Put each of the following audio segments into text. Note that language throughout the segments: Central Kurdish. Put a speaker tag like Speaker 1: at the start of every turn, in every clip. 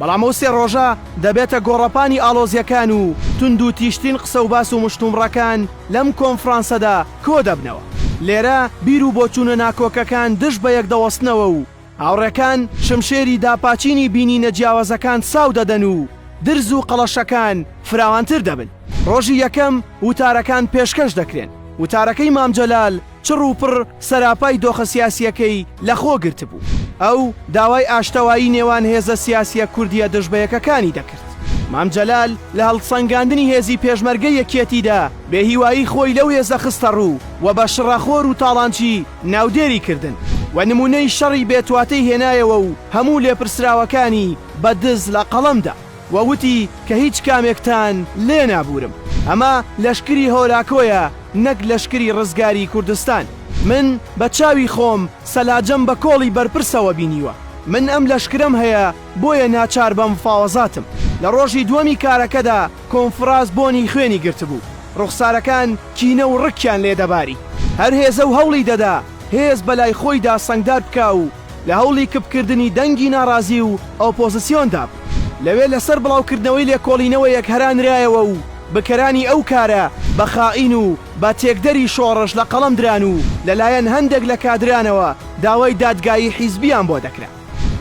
Speaker 1: بەڵام ئەو سێ ڕۆژە دەبێتە گۆڕەپانی ئاڵۆزیەکان و توندوتیژترین قسە و باس و مشتومڕەکان لەم کۆنفرانسەدا کۆدەبنەوە. لێرە بیر و بۆچوونە ناکۆکەکان دژ بەیەک دەوەستنەوە و هاوڕێکان شمشێری داپاچینی بینینە جیاوازەکان ساو دەدەن و درز و قەڵەشەکان فراوانتر دەبن. ڕۆژی یەکەم وتارەکان پێشکەش دەکرێن. وتارەکەی مام جەلال چڕ و پڕ سەراپای دۆخە سیاسییەکەی لە خۆ گرتبوو. ئەو داوای ئاشتەوایی نێوان هێزە سیاسییە کوردییە دژبەیەکەکانی دەکرد. مام جەلال لە هەڵسەنگاندنی هێزی پێشمەرگەی یەکیەتیدا بێهیوایی خۆی لەو هێزە خستەڕوو و بە شڕەخۆر و تاڵانچی ناودێری کردن و نموونەی شەڕی بێتواتەی هێنایەوە و هەموو لێپرسراوەکانی بە دز لە قەڵەم دا. و وتی کە هیچ کامێکتان لێ نابوورم، ئەمە لەشکری هۆلاکۆیە نەک لەشکری ڕزگاری کوردستان، من بە چاوی خۆم سەلاجەم بە کۆڵی بەرپرسەوە بینیوە، من ئەم لەشکرەم هەیە بۆیە ناچار بە مفاوەزاتم. لە ڕۆژی دووەمی کارەکەدا کۆنفڕاس بۆنی خوێنی گرتبوو، ڕوخسارەکان کینە و ڕکیان لێ دەباری، هەر هێزە و هەوڵی دەدا هێز بە لای خۆیدا سەنگدار بکا و لە هەوڵی کپکردنی دەنگی ناڕازی و ئۆپۆزسیۆندا بوو، لەوێ لەسەر بڵاوکردنەوەی لێکۆڵینەوەیەک هەرانرایەوە و بکەرانی ئەو کارە بە خائین و بە تێکدەری شۆڕش لە قەڵەم دران و لەلایەن هەندێک لە کادرانەوە داوای دادگایی حیزبییان بۆ دەکرا.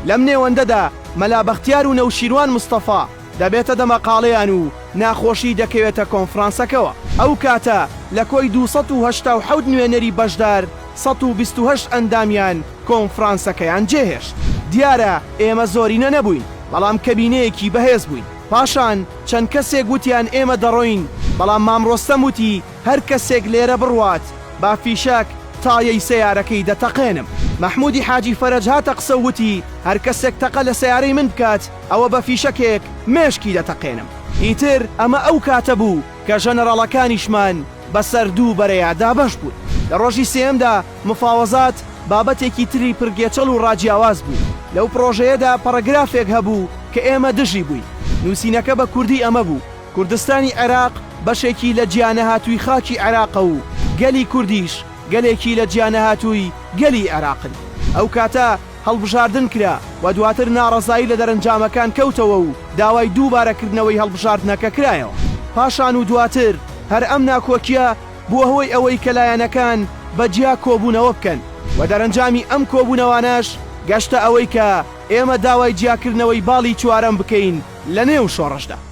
Speaker 1: لەم نێوەندەدا مەلا بەختیار و نەوشیروان مستەفا، دەبێتە دەمەقاڵێیان و ناخۆشی دەکەوێتە کۆنفرانسەکەوە. ئەو کاتە لە کۆی دوو سەد و هەشتا و حەوت نوێنەری بەشدار سەد و بیست و هەشت ئەندامیان کۆنفرانسەکەیان جێهێشت. دیارە ئێمە زۆرینە نەبووین، بەڵام کەبینەیەکی بەهێز بووین. پاشان چەند کەسێک وتیان ئێمە دەڕۆین، بەڵام مام ڕۆستەم وتی، هەر کەسێک لێرە بڕوات با فیشەک تایەی سەیارەکەی دەتەقێنم. مەحموودی حاجی فەرەج هاتە قسە و وتی، هەر کەسێک تەقە لە سەیارەی من بکات ئەوە بە فیشەکێک مێشکی دەتەقێنم. ئیتر ئەمە ئەو کاتە بوو کە ژەنەراڵەکانیشمان بە سەر دوو بەرەیا دابەش بوون. لە ڕۆژی سێیەمدا مفاوەزات بابەتێکی تری پڕ گێچەڵ و ڕاجیاواز بوو. لەو پڕۆژەیەدا پەڕەگرافێک هەبوو کە ئێمە دژی بووین. نووسینەکە بە کوردی ئەمە بوو. کوردستانی عێراق بەشێکی لە جیانەهاتووی خاکی عێراقە و گەلی کوردیش گەلێکی لە جیانەهاتووی گەلی عێراقن. ئەو کاتە هەڵبژاردن کرا و دواتر ناڕەزایی لە دەرەنجامەکان کەوتەوە و داوای دووبارە کردنەوەی هەڵبژاردنەکە کرایەوە. پاشان و دواتر هەر ئەم ناکۆکیە بووە هۆی ئەوەی کە لایەنەکان بە جیا کۆبوونەوە بکەن و دەرەنجامی ئەم کۆبوونەوانەش گەشتە ئەوەی کە ئێمە داوای جیاکردنەوەی باڵی چوارەم بکەین لە نێو شۆڕشدا.